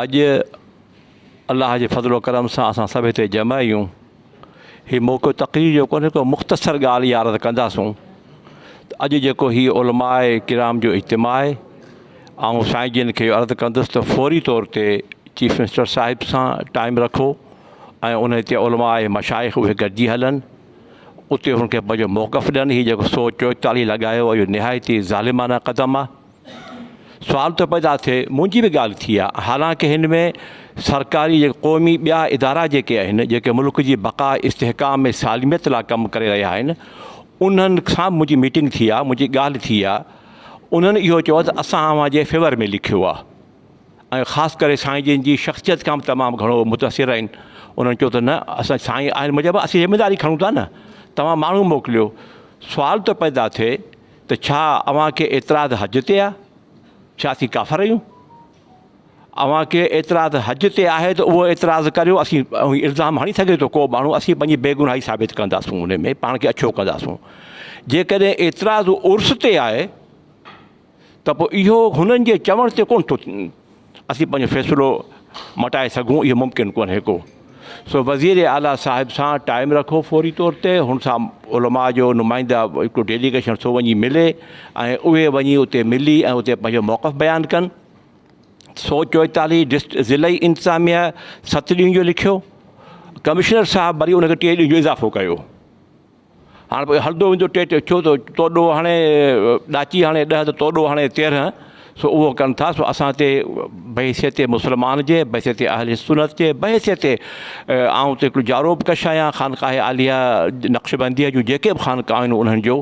اڄ الله جي فضل و ڪرم سان اسان سڀ هتي جمع آهيون هي موقعو تقرير جو ڪونهي ڪو مختصر ڳالهه يا عرض ڪنداسون ته اڄ جيڪو هي علماء ڪرام جو اجتماع آهي آئون سائين جن کي عرض ڪندس ته فوري طور تي چيف منسٽر صاحب سان ٽائم رکو ۽ ان هتي علماء مشائق اهي گڏجي هلن اتي هن کي پنهنجو موقف ڏين هي جيڪو سو چوئيتاليهه لڳايو اهو نهايت ئي ظالمانه قدم آهي سوال ٿو پيدا ٿئي منهنجي به ڳالهه ٿي آ حالانڪه هن ۾ سرڪاري جيڪي قومي ٻيا ادارا جيڪي آهن جيڪي ملڪ جي بقا استحڪام ۽ سالميت لا ڪم ڪري رهيا آهن انهن سان به منهنجي ميٽنگ ٿي آ منهنجي ڳالهه ٿي آ انهن اهو چيو ته اسان اوهان جي فيور ۾ لکيو آ ۽ خاص ڪري سائين جن جي شخصيت کان به تمام گهڻو متاثر آهن انهن چيو ته نه اسان سائين آهن مجب اسين ذميداري کڻون ٿا نه توهان ماڻهو موڪليو سوال ٿو پيدا ٿئي ته ڇا اوهان کي اعتراض حج تي آهي؟ ڇا اسين ڪافر آهيون؟ اوهان کي اعتراض حج تي آهي ته اهو اعتراض ڪريو، اسين الزام هڻي سگهي ٿو ڪو ماڻهو، اسين پنهنجي بيگناهي ثابت ڪنداسون ان ۾ پاڻ کي اڇو ڪنداسون. جيڪڏهن اعتراض عرس تي آهي ته پوء اهو هنن جي چوڻ تي ڪونه ٿو اسين پنهنجو فيصلو مٽائي سگهون اهو ممڪن ڪونهي ڪو سو وزير اعليٰ صاحب سان ٽائيم رکو فوري طور تي هن سان علماء جو نمائنده هڪڙو ڊيليگيشن سو وڃي ملي ۽ اهي وڃي اتي ملي ۽ اتي پنهنجو موقف بيان ڪن سو چوئيتاليهه ڊسٽ ضلعي انتظاميه ست ڏينهن جو لکيو ڪمشنر صاحب وري ان کي ٽي ڏينهن جو اضافو ڪيو هاڻ پوء هلندو ويندو ٽي ٽي ڇو ٿو تو ڏوهه هڻي ڏاچي هڻي ڏهه ته تو ڏوهه هڻي تيرهن سو اهو ڪن ٿا سو اسان تي بحيثيت مسلمان جي بحيثيت اهل سنت جي بحيثيت آئون ته هڪڙو جارو به ڪش آهيان خانقاهه عاليه نقشبنديه جون جيڪي به خانقاهون آهن انهن جو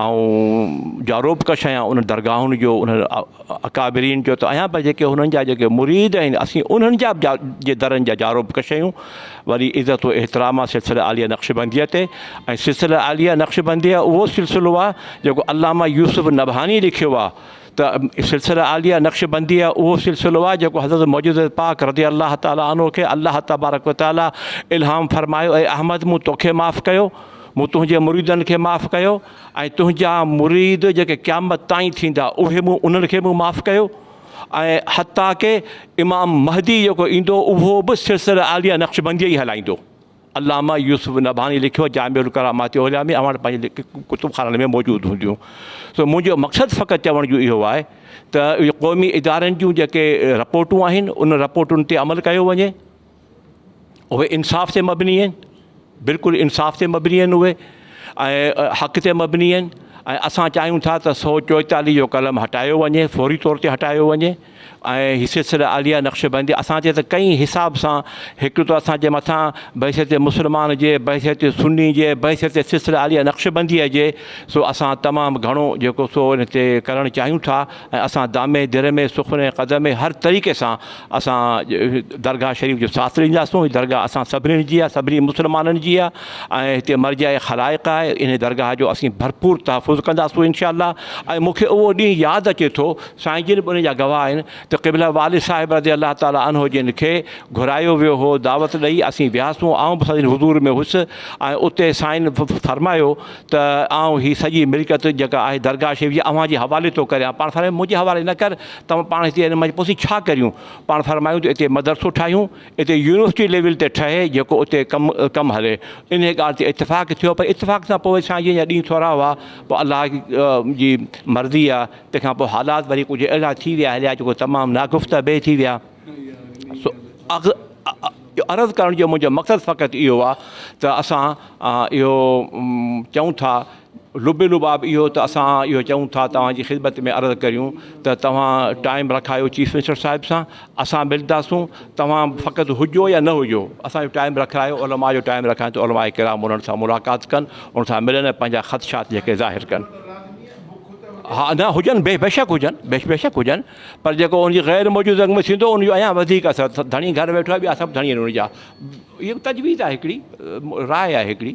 آئون جارو به ڪش آهيان انهن درگاهن جو انهن اڪابرين جو ته آهيان پر جيڪي هنن جا جيڪي مريد آهن اسين انهن جا جي درن جا جارو به ڪش آهيون وري عزت و احترام سلسله عاليه نقشبنديه تي ۽ سلسله عاليه نقشبنديه اهو سلسلو آهي جيڪو علامه يوسف نبهاني لکيو آهي ته سلسله عاليه نقشبنديه اهو سلسلو آهي جيڪو حضرت معجزه پاڪ رضي الله تعالٰي عنه کي الله تبارڪ و تعالٰي الهام فرمايو اي احمد مون توکي معاف ڪيو مون تنهنجي مريدن کي معاف ڪيو ۽ تنهنجا مريد جيڪي قيامت تائين ٿيندا اهي مون انهن کي به معاف ڪيو ۽ حتيٰ ڪه امام مهدي جيڪو ايندو اهو به سلسله عاليه نقشبنديه ئي هلائيندو. علامه يوسف نبهاني لکيو جامع الڪرامات عليا ۾ اوهان وٽ پنهنجي ڪتب خانن ۾ موجود هونديون. سو منهنجو مقصد فقط چوڻ جو اهو آهي ته اهي قومي ادارن جون جيڪي رپورٽون آهن ان رپورٽن تي عمل ڪيو وڃي. اهي انصاف تي مبني آهن بلڪل انصاف تي مبني آهن اهي ۽ حق تي مبني آهن ۽ اسان چاهيون ٿا ته سو چوئيتاليهه جو قلم هٽايو وڃي فوري طور تي هٽايو وڃي ۽ هي سلسله عاليه نقشبندي اسان تي ته ڪئين حساب سان هڪ ته اسانجي مٿان بحثيت مسلمان جي بحثيت سني جي بحثيت سلسله عاليه نقشبنديء جي سو اسان تمام گهڻو جيڪو سو ان تي ڪرڻ چاهيون ٿا ۽ اسان دامي درمي سخني قدمي هر طريقي سان اسان درگاهه شريف جو ساٿ ڏينداسون هي درگاهه اسان سڀني جي آهي سڀني مسلمانن جي آهي ۽ هتي مرجع خلائق آهي انهي درگاهه جو اسين ڀرپور تحفظ ڪنداسون انشاء الله ۽ مونکي اهو ڏينهن ياد اچي ٿو سائين جن به ان جا گواهه آهن ته قبله والد صاحب رضي الله تعالٰي عنه جن کي گهرايو ويو هو دعوت ڏئي اسين وياسون آئون به سندن حضور ۾ هوس ۽ اتي سائين فرمايو ته آئون هي سڄي ملڪيت جيڪا آهي درگاهه شريف جي اوهان جي حوالي ٿو ڪريان. پاڻ فرمايو منهنجي حوالي نه ڪر، توهان پاڻ هتي ان منجهه پسي ڇا ڪريون؟ پاڻ فرمايو ته اتي مدرسو ٺاهيون، اتي يونيورسٽي ليول تي ٺهي جيڪو اتي ڪم ڪم هلي. انهيء ڳالهه تي اتفاق ٿيو پر اتفاق سان پوء سائين جن جا ڏينهن ٿورا هئا، پوء الله جي مرضي آ، تنهن کان پوء حالات وري ڪجهه اهڙا ٿي ويا هليا جيڪو تمام ناگفته به ٿي ويا. سو عرض ڪرڻ جو منهنجو مقصد فقط اهو آ ته اسان اهو چئون ٿا لب لباب اهو ته اسان اهو چئون ٿا توهان جي خدمت ۾ عرض ڪريون ته توهان ٽائيم رکايو چيف منسٽر صاحب سان اسان ملداسون توهان فقط هجو يا نه هجو اسان جو ٽائيم رکرايو علماء جو ٽائيم رکائين ته علماء ڪرام انهن سان ملاقات ڪن ان سان ملن ۽ پنهنجا خدشات جيڪي ظاهر ڪن ها نه هجن بي بيشڪ هجن بيشڪ هجن پر جيڪو ان جي غير موجود رنگ ۾ ٿيندو ان جو اڃا وڌيڪ اثر ڌڻي گهر ويٺو آهي ٻيا سڀ ڌڻي آهن ان جا اهو تجويز آهي هڪڙي راء آهي هڪڙي.